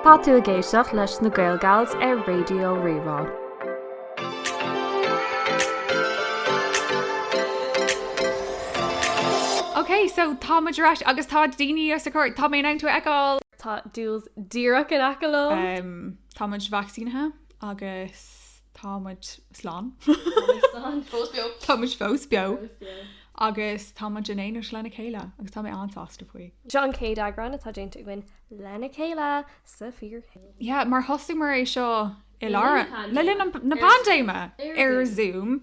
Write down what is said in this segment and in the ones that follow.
Tá tú ag éisteacht leis na GaelGals ar Raidió Rí-Rá. Ok so tá muid ar ais agus tá daoine sa chúirt tá mé in ann tú a fheiceáil. Tá Doyles díreach in aice liom. Tá muid vacsaínithe agus. Tá muid slán. Tá muid slán. Fós beo. Tá muid fós beo. Fós beo. Agus tá muid in éineacht lena chéile agus tá mé an-sásta faoi. Seo an chéad eagrán atá déanta againn lena chéile sa fíorshaol. Yeah, mar thosaigh muid é seo i lár, le linn na paindéime, ar Zoom.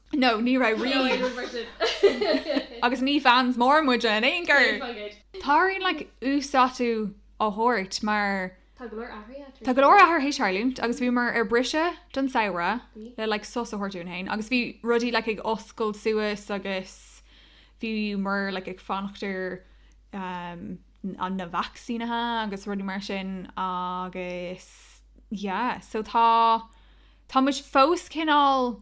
No, ní raibh rí. Agus ní fans mór muide in aon chor! Tá orainn like uasdátú a thabhairt mar. Tá go leor athraithe tar éis. Tá go leor athraithe tar éis tarlúint agus bhíomar ar bhriseadh don samhradh le like sos a thabhairt dúinn féin agus bhí rudaí like ag oscailt suas agus bhíomar like ag fanacht ar ehm an na vacsaínithe agus rudaí mar sin agus yeah so tá tá muid fós cineál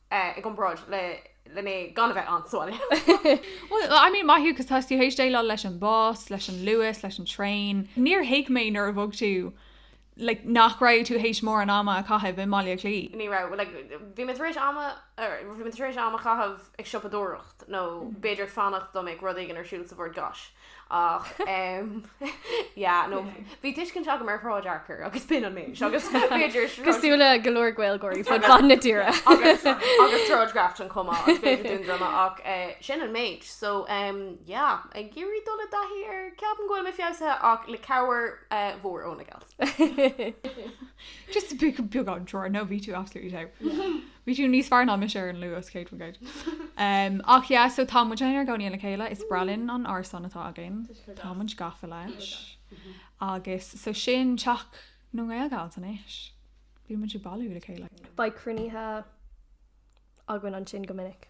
i gcomparáid le le mé i mo chónaí sa bhaile. Bhuel, I mean, maith thú 'cause tá tú théis déileáil leis an bus, leis an luas, leis an traein. Níor thuig mé nuair a bhog tú like nach raibh tú théis mórán ama a chaitheamh i mBaile Átha Cliath. Ní raibh, like bhí mé tar éis ama bhí mé tar éis am a chaitheamh ag siopadóireacht nó b'fhéidir fanacht dá mbeadh rud éigin ar siúl sa Bhord Gáis. Ach em yeah no bhí tuiscint agam ar Shráid Fhearchair agus b'in an méid agus b'fhéidir Cosúil le go leor Gaeilgeoirí fud fad na tíre. agus agus Sráid Grafton chomh maith agus b'fhéidir Dún Droma ach eh, sin an méid. So em yeah, ag iarraidh dul i dtaithí ar ceapaim go bhfuil mé feabhsaithe ach le cabhair eh, mhór óna gals. Just beagán trua no bhí tú absolutely dead. Bhí tú níos fearr ná mise ar an luas, Kate Van Gate. um, ach yeah, so tá muid inár gcónaí le chéile, is breá linn an árasán atá againn. Tá muid gafa leis. Mhm. Agus so sin teach na nGaelGals anois. Beidh muid ag bailú le chéile. Beidh cruinnithe againn ansin go minic.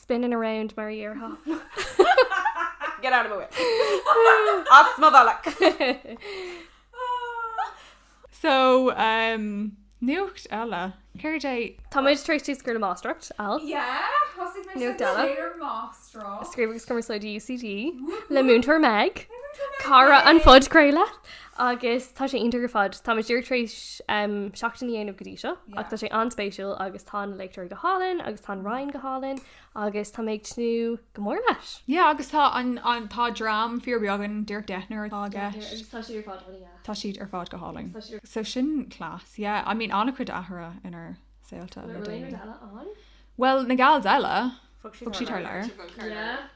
Spinning around mar a déarfá. Get out of my way. As mo bhealach. So um, nuacht eile. Céard é? Tá muid tar éis tús a chur le máistreacht, Al. Yeah, thosaigh mé Nuacht sa eile. Taylor Máistreacht. Scríobh agus cumarsáid UCD le múinteoir Meg. Cara an phodchraolta. Agus tá sé iontach ar fad. Tá muid díreach tar éis seachtain a dhéanamh go dtí seo ach tá sé an-spéisiúil agus tá na léachtóirí go hálainn agus tá an Roinn go hálainn agus tá mé ag tnúth go mór leis. Yeah agus tá an an tá dream fíorbheag ann, díreach deichniúr atá i gceist. Tá siad ar fad funny as. Tá siad ar fad go hálainn. So sin class yeah. I mean an-chuid athraithe inár saolta le déanaí. Bhfuil na gals eile ann? Bhfuil na gals eile? Bhog siad thar lear. Yeah.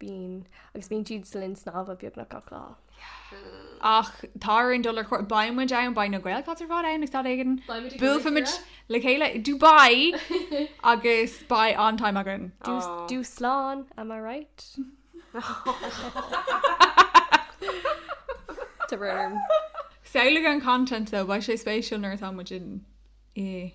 Bíonn. Agus bíonn siad sa linn snámha beagnach gach lá. Ach tá araon dul ar chóir. Beidh muid ann, beidh na Gaelgals ar fad ann ag staid éigin. Buailfidh muid le chéile i Dubai agus beidh an-time againn. Dúshlán, am I right? The room. Samhlaigh an content though, beidh sé spéisiúil nuair atá muid i.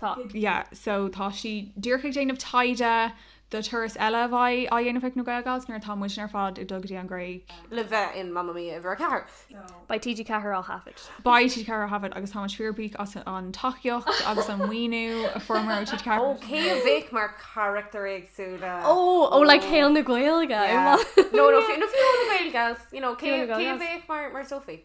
Tá, yeah, so tá sí díreach ag déanamh taighde do turas eile a bheidh á dhéanamh ag na Gaelgals nuair atá muidne ar fad ag dul go dtí an Ghréig. le bheith in Mamma Mia uimhir a ceathair. Beidh TG4 á thaifead. Beidh TG4 á thaifead agus táimid fíorbhuíoch as an tacaíocht agus an maoiniú a fuaireamar ó TG4. Ó, cé a bheadh mar charachtair éagsúla? Ó, ó, like saol na Gaeilge? Yeah. No, no, fi, no, Fiona na Gaeilge, you know, cé, Fiona na Gaeilge. cé a bheadh mar, mar Sophie?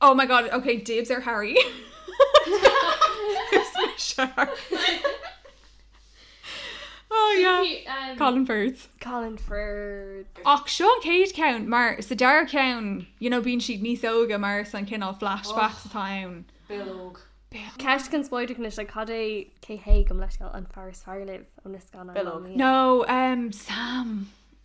Oh my god ok dibs ar Harry is mise oh yeah Colin Firth Colin Firth ach seo an chéad ceann mar sa dara ceann you know bíonn siad níos óige mar is na cineál flashbacks atá ann Bill óg Ceist conspóideach anois le cad é cé hé go basically an fear is fearr libh ó na scannáin Bill óg? nó Sam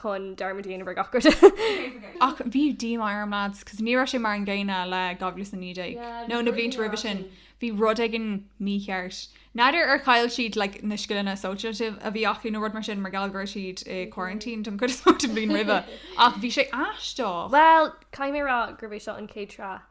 chun dearmad a dhéanamh ar gach rud. Ach bhí díomá orm lads, cos ní raibh sé mar an gcéanna le 2019. nó na blianta roimhe sin, bhí rud éigin mícheart. N'fheadar ar chaill siad like, na scileanna sóisialta a bhí acu nó rud mar sin mar gheall go raibh siad i quarantine don chuid is mó den bhliain roimhe. Ach bhí sé aisteach. Bhuel, caithfidh mé a rá gurb é seo an chéad sraith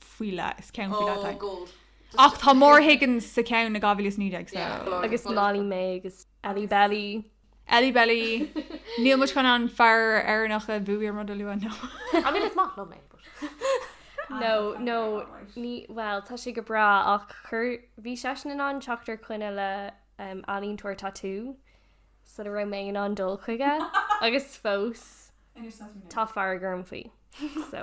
faoi leith is ceann faoi leith oh, ach tá Maura Higgins sa cheann ó 2019 so. yeah, agus Molly-Mae agus Ellie Belly Ellie Belly níl muid chun an fear Éireannach a bhuaigh an rud a lua nó I mean it's not love no no ní well tá sé go breá ach chuir bhí seisean in ann teacht ar choinne le um, ealaíontóir tatú so ní raibh mé in ann dul chuige agus fós tá fearg orm faoi so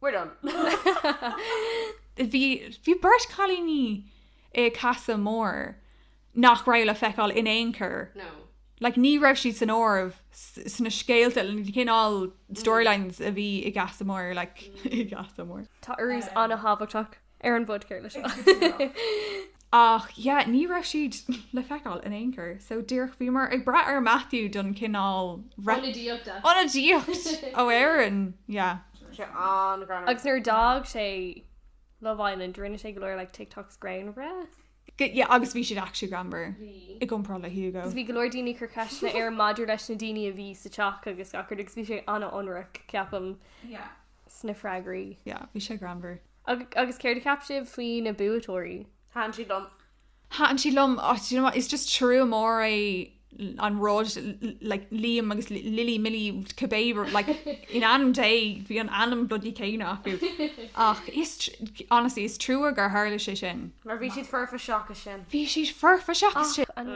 We're done. Bhí bhí beirt cailíní i Casa Amor nach raibh le feiceáil in aon chor. No. Like ní raibh siad san áireamh s- sna scéalta, na cineál storylines a bhí i gCasa Amor, like i gCasa Amor. Tá urrús an-tábhachtach. Ar an bpodchraoladh seo. Ach yeah, ní raibh siad le feiceáil in aon chor, so díreach bhíomar ag brath ar Matthew don chineál rep-. Ionadaíochta. Ionadaíocht ó Éirinn, yeah. Tá sé an-ghreannmhar. Agus nuair a d'fhág sé Love Island rinne sé go leor like TikToks greannmhara. Good, yeah, agus bhí siad actually greannmhar. Bhí. I gcomparáid le Hugo. Agus bhí go leor daoine ag cur ceisteanna air maidir leis na daoine a bhí sa teach agus gach rud agus bhí sé an-ionraic, ceapaim. Yeah. Sna freagraí. Yeah, bhí sé greannmhar. Ag, agus céard a cheap sibh faoi na buaiteoirí? Thaitin siad liom. Thaitin siad liom. Oh, do you know what, is just trua mór é an rud, like, Liam agus Lily, Milly, cibé rud, like, in ainm Dé, bhí an ainm bloody céanna acu. Ach is tr-, honestly, is trua gur tharla sé sin. Mar bhí siad foirfe seachas sin. Bhí siad foirfe seachas sin. Ach an.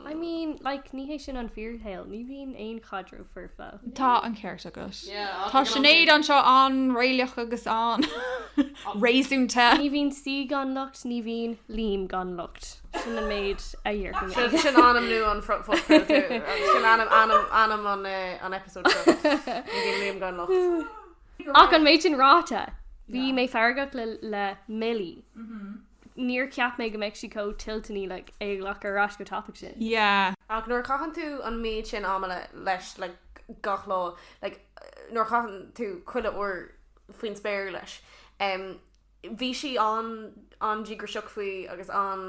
I mean, like, ní hé sin an fíorshaol, ní bhíonn aon chaidreamh foirfe. Tá an ceart agat. Tá Sinéad anseo an-réalaíoch agus an-réasúnta. Ní bhíonn saoi gan locht, ní bhíonn Liam gan locht. Sin an méid a dhéarfaidh mé. Sin sin ainm nua an phodchraolta. Sin ainm ainm ainm an an eipeasóid seo. Ní bhíonn Liam gan locht. Ach an méid sin ráite, bhí mé feargach le le Millie. Níor cheap mé go mbeadh sí chomh toilteanach like é a ghlacadh ar ais chomh tapaidh sin. Yeah. Ach nuair a chaitheann tú an méid sin ama leis like gach lá like nuair a chaitheann tú chuile uair faoin spéir leis umm bhí sí an an-díograiseach faoi agus an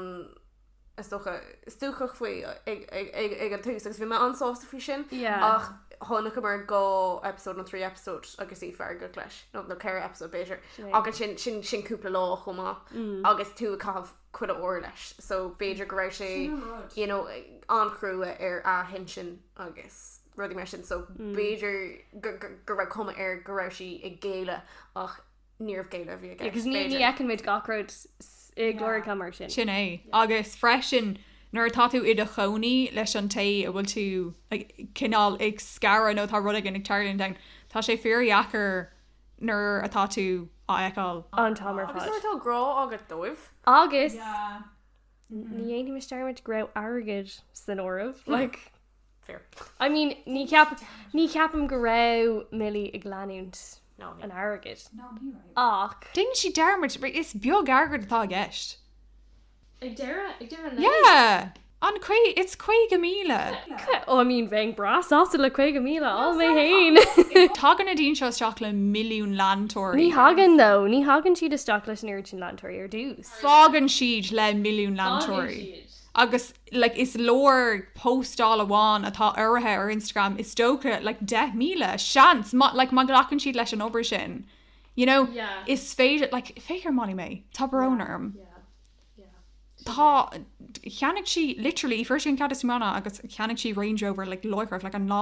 is dócha, stuacach faoi ag an tús agus bhí mé an-sásta faoi sin ach chonaiceamar dhá episode nó trí episode agus í feargach leis nó nó ceithre episode b'fhéidir agus sin sin sin cúpla lá chomh maith mm. agus tú ag caitheamh chuile uair leis so b'fhéidir go raibh sé you know an-chrua uirthi ansin agus rudí mar sin so mm. b'fhéidir go raibh cuma air go raibh sí ag géilleadh ach níorbh géilleadh a bhí aige. Agus ní fheiceann muid gach rud i gclár atá mar sin. Sin é. Agus freisin, nuair atá tú i do chónaí leis an té a bhfuil tú cineál ag scaradh nó tá rud éigin ag tarlúint ann, tá sé fíordheacair nuair atá tú á fheiceáil. An t-am ar fad. Agus nuair atá grá agat dóibh. Agus ní dhéanfaidh mise dearmad go raibh airgead san áireamh. Fair. I mean, ní ceap, ní ceapaim go raibh Millie ag leanúint No, ní. an airgid. No, ní raibh. Ach, Dhein sí dearmad, mar is beag airgead atá i gceist. Ag deireadh, ag deireadh an lae. Yeah! An caoga, it's caoga míle. ca- oh, I mean, bheinn breá sásta le caoga míle, all mé fhéin. Tagann na daoine seo isteach le milliún leantóirí. Ní thagann, though, ní thagann siad isteach leis an oiread sin leantóirí ar dtús. Fágann siad le milliún leantóirí. Fágann siad. Agus. like is leor póstáil amháin atá urraithe ar Instagram is dócha like deich míle seans má like má ghlacann siad leis an obair sin you know Yeah. is féidir like féidir Molly mé tá brón Yeah, orm yeah, yeah. tá Sure. cheannaigh sí literally fuair sí an chéad íocaíocht agus cheannaigh sí Range Rover like láithreach like an lá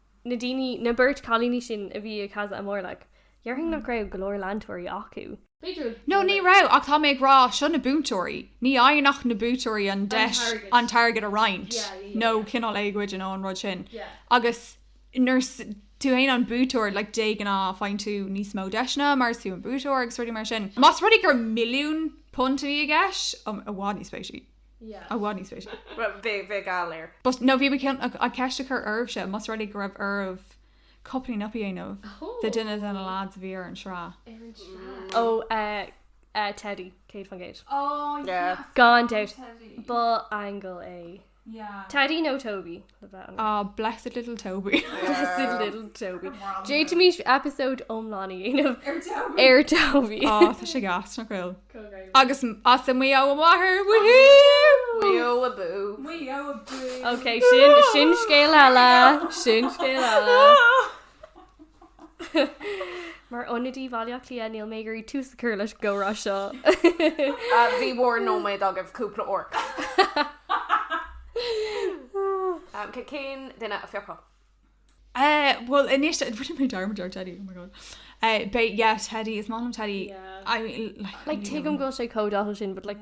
na daoine, na beirt cailíní sin a bhí ag Casa Amor, like, dhéarfainn nach raibh go leor leantóirí acu. B'fhéidir. No, ní raibh, ach tá mé ag rá, seo na buaiteoirí, ní fhaigheann ach na buaiteoirí an deis an t-airgead a roinnt, nó cineál éagoide nó an rud sin. Agus nuair is tú fhéin an buaiteoir, like, de ghnáth faigheann tú níos mó deiseanna mar is tú an buaiteoir agus rudaí mar sin. Más rud é gur milliún punt a bhí i gceist, bheadh níos spéise. Yeah. I want níos spéise. Well, bhí, bhí go léir. But, no, bhí mé chun, ag, ag ceist a chur oraibhse, más rud é go raibh oraibh coupling up a dhéanamh, Oh. the dinners and the lads a bhí ar an sraith. Ar an sraith. Ó, eh, eh, Teddy, céad faoin gcéad. Oh, Yeah. yes. Gan dabht. Teddy. Ba aingeal é. Yeah. Teddy nó Toby? Á, blessed little Toby. Blessed little Toby. D'fhéadfaimis episóid iomlán a dhéanamh ar Toby. Á, tá sé gas nach bhfuil. Agus as Maigh Eo a mháthair, woohoo! Maigh Eo abú. Maigh Eo abú. Ok, sin, sin scéal eile, sin scéal eile. Mar ionadaí Bhaile Átha Cliath níl mé ag iarraidh tús a chur leis an gcomhrá seo. Bhí bhur nóiméad agaibh cúpla uair. Cén duine a phiocfadh? Bhuel anois rinne mé dearmad ar Teddy oh my god. Beidh yeah Teddy is maith liom Teddy I mean like Like tuigim go bhfuil sé chomh dathúil sin but like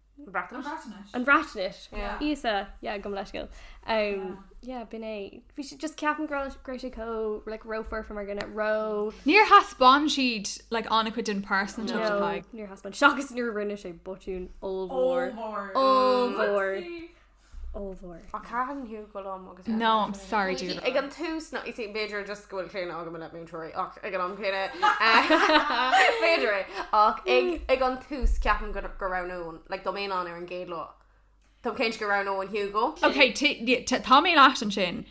An Bhreatnais? An Bhreatnais. Íosa, yeah, gabh mo leithscéal. Yeah, b'in é. Bhí sé just ceapaim go raibh sé chomh like ró-foirfe mar dhuine, ró... Níor thaispeáin siad like an-chuid den phearsantacht a bhí aige. No, níor thaispeáin, seachas nuair a rinne sé botún ollmhór, ollmhór. mhór. Ach cathain thú go liom agus é. No, I'm sorry dear. Ag an tús, no, you see, b'fhéidir just go bhfuil claonadh agam le múinteoirí ach ag an am céanna, b'fhéidir é, ach ag, ag an tús ceapaim go, go roghnóinn, like, dá mbeinn ann ar an gcéad lá, táim cinnte go roghnóinn Hugo. Ok, t- yeah, t- tá mé leat ansin.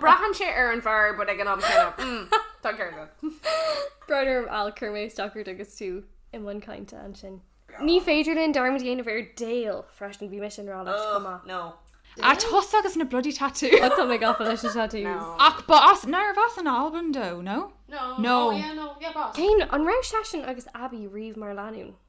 Braitheann sé ar an bhfear but ag an am céanna mm tá an ceart agat. Brón orm Al chuir mé isteach ort agus tú i mbun cainte ansin. Ní féidir linn dearmad a dhéanamh ar Dale freisin, bhí mise i ngrá leis chomh maith. No. A tusa agus na bloody tattoos. Ó tá mé gafa leis na tattoos. Ach ba as, nárbh as an Albain dó, no? No. No. Oh yeah no yeah b'as. Cén, an raibh seisean agus Abbie riamh mar lánúin?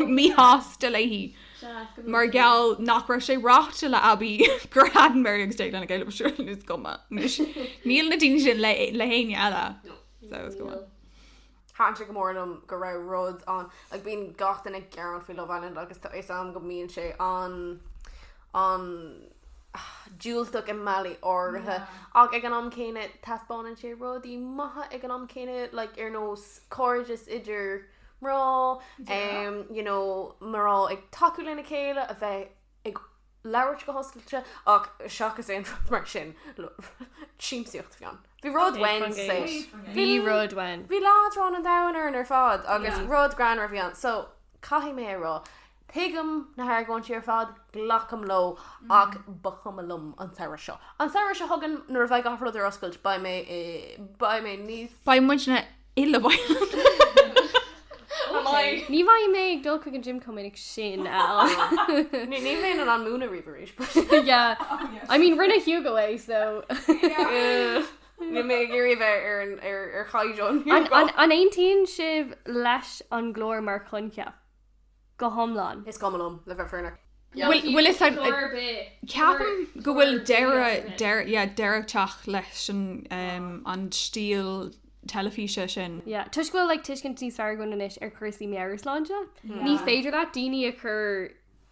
míshásta léi mar gheall nach raibh sé ráite le Abbey go raibh Mary agus Jake lena chéile. B'shin an nós cuma anois. Níl na daoine sin le héinne eile. So it's cuma. Thaitn sé go mór liom go raibh rud ann like bíonn gach duine ag gearán faoi Love Island agus tá fhios a'm go mbíonn sé an an diúltach i mbealaí áirithe ach ag an am céanna taispeánann sé rudaí maithe ag an am céanna like ar nós cairdeas idir mná, you know, mná ag tacú lena chéile, a bheith ag labhairt go hoscailte ach seachas aon rud mar sin, siamsaíocht a bhí ann. Bhí rud uainn sa. Bhí rud uainn. Bhí leadrán an domhain orainn ar fad agus rud greannmhar a bhí ann so caithfidh mé a rá Tuigim na hargóintí ar fad, glacaim leo ach ba chuma liom an samhradh seo. An samhradh seo chugainn nuair a bheidh gach rud ar oscailt beidh mé i beidh mé níos. Beidh muidne uilig sa bhaile. Ní bheidh mé ag dul chuig an gym chomh minic sin Al. Ní níl mé in ann múineadh riamh arís but. Yeah I mean rinne Hugo é so. Níl mé ag iarraidh a bheith ar an ar ar chaighdeán Hugo. An aontaíonn sibh leis an gclár mar choincheap? go hiomlán. Is cuma liom, le bheith fírinneach. Bhfuil fhios a'd, ceapaim go bhfuil deireadh, deireadh ag teacht leis an, an stíl teilifíse sin. Yeah, toisc go bhfuil like tuiscint níos fearr againn anois ar chúrsaí meabhairshláinte. Ní féidir leat daoine a chur.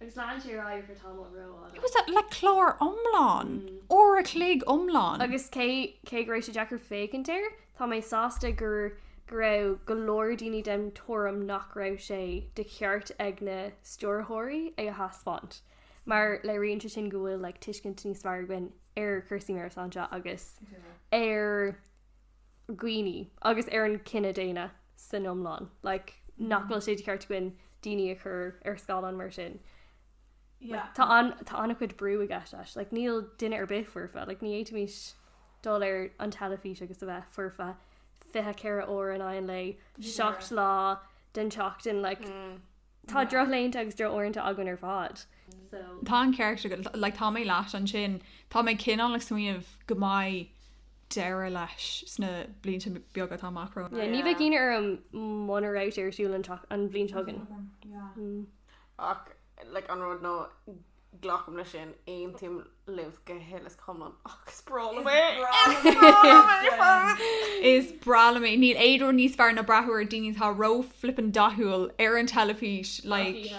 Agus lean sé ar aghaidh ar feadh tamaill ró fhada. Agus le clár iomlán, uair a chloig iomlán. Agus cé cé go raibh sé deacair féachaint air, tá mé sásta gur go raibh go leor daoine den tuairim nach raibh sé de cheart ag na stiúrthóirí é a thaispeáint, mar léiríonn sé sin go bhfuil like tuiscint níos fearr againn ar chúrsaí meabhairshláinte agus ar. dhaoine agus ar an chine daonna san iomlán like nach bhfuil sé de cheart againn daoine a chur ar scáileán mar sin. Yeah. Tá an tá an-chuid brú i gceist leis, like níl duine ar bith foirfe, like ní fhéadfaimis dul ar an teilifís agus a bheith foirfe 24 uair in aghaidh an lae, 7 lá den tseachtain like Tá drochlaethanta agus drochuaireanta againn ar fad. Tá an ceart agat, like tá mé leat ansin. Tá mé cineál ag smaoineamh go mbeidh deireadh leis sna blianta beaga atá amach romhainn. Yeah, ní bheadh ionadh orm muna raibh sé ar siúl an bhliain seo chugainn. Ach le an rud nó Glacaim leis sin, aontaím libh go hiomlán agus is breá liom é! Is breá liom é! Is breá liom é ar fad! Is breá liom é! Níl aon rud níos fearr ná breathnú ar daoine atá ró flippin dathúil ar an teilifís like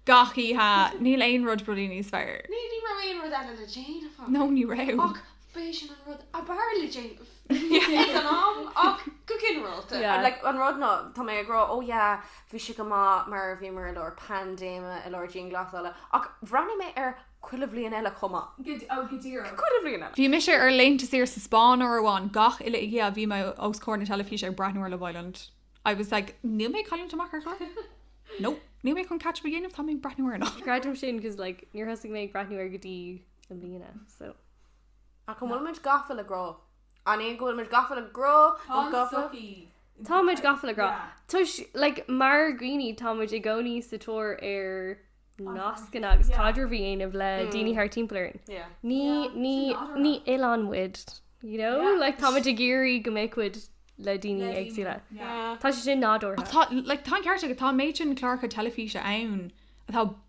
gach oíche. Níl aon rud rudaí níos fearr. Ní raibh aon rud eile le déanamh againn. No, ní raibh. Ach. Ba é sin an rud ab fhearr le déanamh ag an am ach go ginearálta. Yeah. Like, an rud ná, tá mé ag rá, oh yeah, bhí sé go maith mar a bhíomar i lár paindéime, i lár dianghlasála, ach bhreathnaigh mé ar chuile bhliain eile chomh maith. Go, oh, go díreach. Chuile bhliain eile. Bhí mise ar laethanta saoire sa Spáinn uair amháin, gach uile oíche bhí mé os comhair na teilifíse ag breathnú ar Love Island. I was like, níl mé ag cailliúint amach ar chlár. No, níl mé chun catch up a dhéanamh, tá mé ag breathnú air. Creidim sin 'cause like níor thosaigh mé ag breathnú air go dtí na bliana so Ach an bhfuil muid gafa le grá? An é go bhfuil muid gafa le grá? Tá an an gafa? tsochaí. Tá muid gafa le grá. Yeah. Toisc, like, mar dhaoine tá muid i gcónaí sa tóir ar nascanna agus Yeah. caidreamh a dhéanamh le Mm. daoine thar timpeall orainn. Yeah. Ní Yeah, ní sin adhradh. ní oileán muid, you know? Yeah. Like tá muid ag iarraidh go mbeadh muid le daoine Le daoine. éagsúla. Yeah. Tá sé sin nádúrtha. Tá, like, tá an ceart agat, tá an méid sin cláracha teilifíse ann atá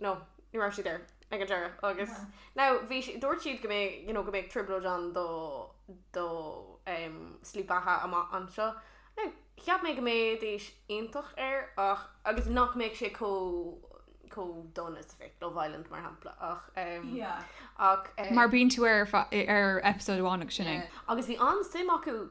No, ní raibh siad air ag an deireadh agus now bhí si- dúirt siad go mbé- you know go mbeadh trioblóid ann dá dá em slí beatha amach anseo. Now, cheap mé go mbeidís iontach air ach agus nach mbeadh sé chomh chomh dona is a bheadh Love Island mar shampla ach em ach eh. Mar bíonn tú ar fa- ar episode amháin agus sin é. Yeah. Agus bhí an-suim acu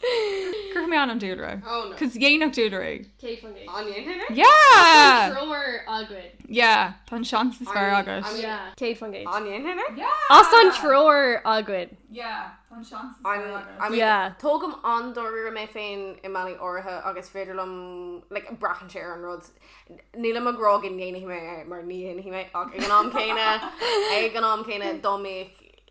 Cuirfidh mé m'ainm, a dhúlra. Oh no. Cos dhéanfadh dúlra é. Cé fan gé? An ndéanfaidh mé? Yeah! Tá an treoir againn. Yeah, tá an seans is fearr agat. Yeah. Cé fan gé? An ndéanfaidh mé? Yeah! As tá an treoir againn. Yeah, tá an seans is fearr agat. I mean, Yeah. tógaim an-dáiríre mé féin i mbealaí áirithe agus is féidir liom, like, braitheann sé ar an rud. Nílim ag rá go ndéanfaidh mé é mar ní dhéanfaidh mé ach ag an am céanna, ag an am céanna, dá mbeadh,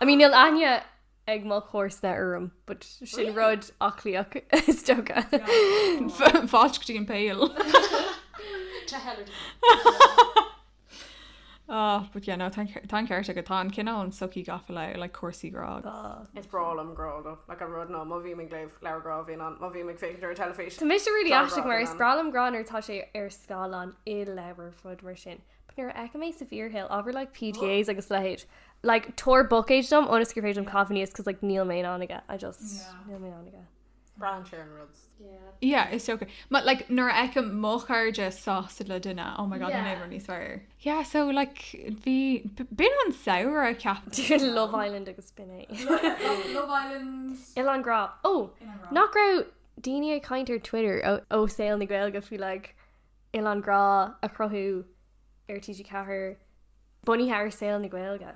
I mean níl aithne ag mo chomharsana orm but sin rud Átha Cliathach is dócha. Fáilte go dtí an Pale. To hell or to. Ah but yeah no tá an ceart agat, tá an cineál an tsochaí gafa le like cúrsaí grá agus. Is breá liom grá do like an rud ná má bhím ag léamh leabhar grá bhíonn ann, má bhím ag féachaint ar an teilifís Tá mise really tá an aisteach grá mar bhíonn is ann. breá liom grá nuair atá sé ar scáileán i leabhar rud mar sin but nuair a fheicim é sa bhfíorshaol ábhar like PDAs agus leithéid Like tor book age dom on escape age dom coffee is cause like Neil Main on again I just yeah. Neil Main on again Brian Sharon Rhodes yeah yeah it's okay but like nor eka mocharja sauce le dinna oh my god yeah. never ní swear yeah so like bhí bin an saoir a ceap Love Island agus spinné Love Island il an gra oh nach ra daine ag caiintear Twitter ó oh, oh, saoil na gail go fi like il an gra a chrothú ar TG4 bunaithe ar saol na Gaeilge.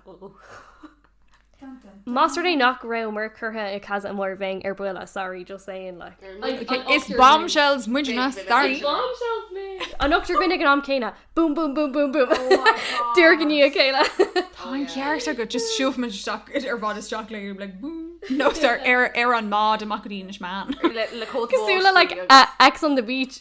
Más rud é nach raibh Merck curtha i Casa Amor Bheinn ar buile, sorry, just saying like. Is bombshells muid ina staraí. An t-ochtar againn ag an am céanna, boom boom boom boom boom. I ndiaidh a chéile. Tá an ceart agat, just siúil muid isteach ar fad isteach le go like boom. Nó ar ar an mbád amach go dtí Inis Meáin. Le cóta báistí agus. Cosúil le like Ex on the beach.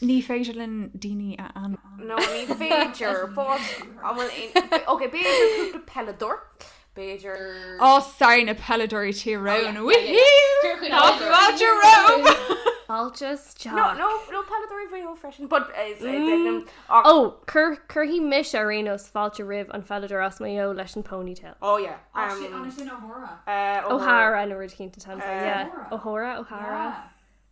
Ní féidir linn daoine a an. No ní féidir Ok b'fhéidir cúpla peileadóir B'fhéidir á sure na peileadóirí Tyrone Altas nó peileadóirí Mhaigh Eo freisin ó cuirfidh mise ar aon nós fáilte roimh an pheileadóir as Maigh Eo leis an ponytail ó O'Hara an a rud cinnte O'Hara O'Hara.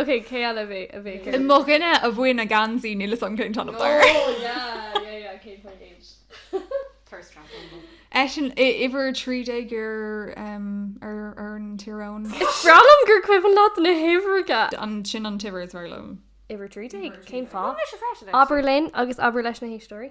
Ok cé eile a bhí- a bhí acu? I mo dhuine a bhuaigh na geansaí níl fhios agam cén t-ainm Oh dár. yeah yeah yeah cén t-ainm d'iad. Thirst trap an bhó. Eisean i- uimhir 13 ar em ar ar an Tyrone. Is breá liom gur cuimhin leat na huimhreacha! An sin an t-uimhir is fearr liom. Uimhir 13? Cén fáth? Cuimhin leis an freisin é sin. Abair linn agus abair leis na héisteoirí.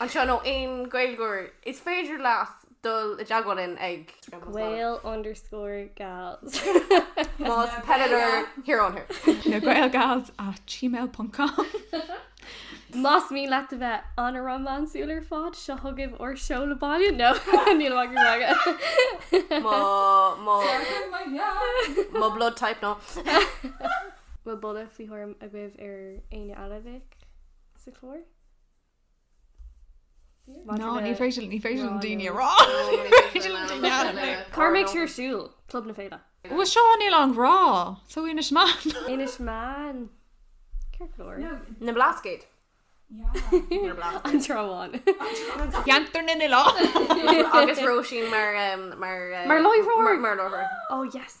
anseo nó aon Gaeilgeoir, is féidir leat dul i dteagmháil linn ag. Gael underscore gals. Más peileadóir, here on here. le gaelgals at gmail ponc com. Más mian leat a bheith an-rómánsúil ar fad, seo chugaibh ár seoladh baile. No, níl mhaith go raibh aige. Mo, mo, Sárú mo theach. mo blood type, no. Bhfuil buille faoi thuairim agaibh ar éinne eile a bheadh sa chlár? Maidir le Cár mbeidh sí ar siúl? Club na Féile. Bhuel seo Oileán an Ghrá. So Inis Meáin. Inis Meáin. Ciorclóir. Na mBlascaod. An Trá Bháin. Ceantar na nOileán. Agus Róisín mar láithreoir. Ó yes.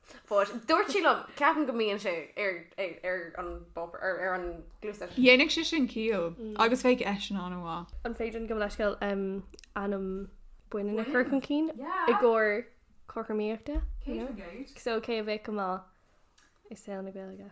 But dúirt sí liom, ceapaim go mbíonn sé ar an bpáipéar, ar ar an gcluasa. Dhéanfadh sé sin ciall agus bheadh eisean an-mhaith. An féidir liom gabh mo leithscéal ainm baineann a chur chun cinn i gcomhair cothromaíochta? So cé a bheadh go maith i saol na Gaeilge?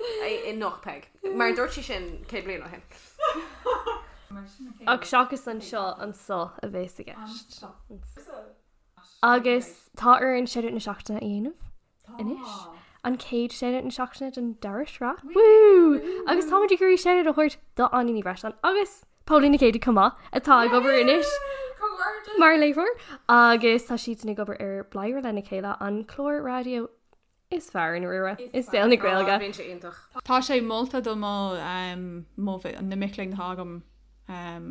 i Knock Peig. Mar dúirt sí sin 100 bliain ó shin. Ach seachas anseo, anso a bhéas i gceist. Agus tá orainn shoutout na seachtaine a dhéanamh anois. An chéad shoutout na seachtaine den dara sraith. Wú! Agus táimid ag iarraidh shoutout a thabhairt do Áine Ní Bhreisleáin agus Póilín Nic Géidigh chomh maith atá ag obair anois mar léiritheoir agus tá siadsan ag obair ar Bladhaire lena chéile, an clár raidió Is fearr an riara i saol na Gaeilge. Bíonn sé iontach. Tá sé molta do mo mo na mic léinn atá agam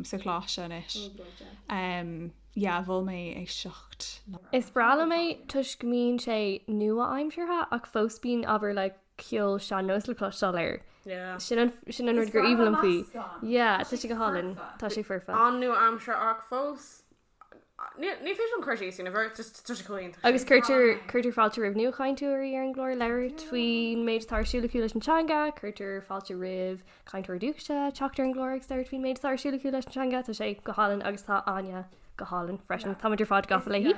sa choláiste anois. Ó bróid é. Yeah mhol mé éisteacht leis. Is breá liom é toisc go mbíonn sé nua-aimseartha ach fós bíonn ábhar le ceol sean-nóis le cloisteáil air. Yeah. Sin an sin an rud gur aoibhinn liom faoi. Is fearr an meascán. Yeah tá sé go hálainn. Tá sé foirfe. Tá sé foirfe. An-nua-aimseartha ach fós. Ní féidir an cur síos sin, tá sé chomh hiontach sin. Agus cuirtear cuirtear fáilte roimh nuachainteoirí ar an gclár labhairt faoin méid atá ar siúl acu leis an teanga, cuirtear fáilte roimh cainteoirí dúchais teacht ar an gclár agus labhairt faoin méid atá ar siúl acu leis an teanga. Tá sé go hálainn agus tá Áine go hálainn freisin. Táimid ar fad gafa léi.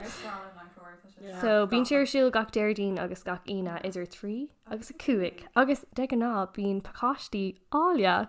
So bíonn sí ar siúl gach Déardaoin agus gach Aoine idir 3 agus 5 agus de ghnáth bíonn pacáistí áille.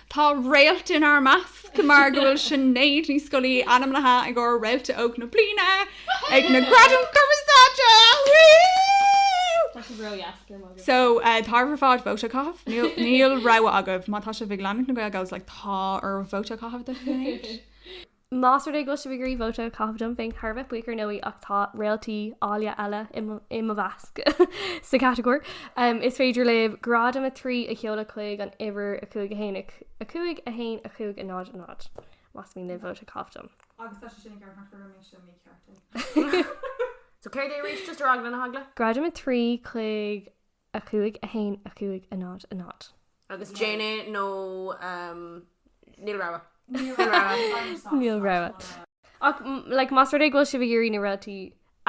Tá réalt inár measc mar go bhfuil Sinéad Ní Scolaí ainmnithe i gcomhair Réalta Óg na Bliana ag na Gradaim Cumarsáide! Woo! Tá sibh ró-dheas, cur magadh. So, tá oraibh ar fad vóta a chaitheamh. Níl, níl rogha agaibh. Má tá sibh ag leanúint na Gael Gals like tá oraibh vóta a chaitheamh do Shinéad. Más rud é go bhfuil sibh ag iarraidh vóta a chaitheamh dom, bheinn thar a bheith buíoch ar ndóigh ach tá réaltaí áille eile i mo mheasc sa chatagóir. Is féidir libh Gradam 3 a sheoladh chuig an uimhir 5 1 5 5 1 5 0 0 más mian libh vóta a chaitheamh dom. Agus tá sé sin ag amharc ar an méid seo, ní ceart é. So céard é arís? Just ar eagla na heagla? Gradam 3 chuig. 5, 1, 5, 0, 0. Agus déan é nó níl rogha. Níl rogha. Ach like más rud é go bhfuil sibh ag iarraidh na réaltaí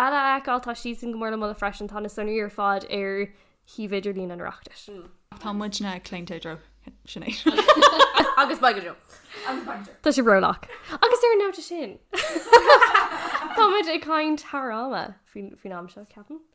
eile a fheiceáil tá siadsan go mór le moladh freisin, tá na sonraí ar fad ar shuíomh idirlín an Oireachtais. Tá muidne claonta i dtreo Sinéad. Agus beidh go deo. Agus beidh go deo. Tá sibh rólách. Agus ar an nóta sin tá muid ag caint thar ama faoin am seo, ceapaim.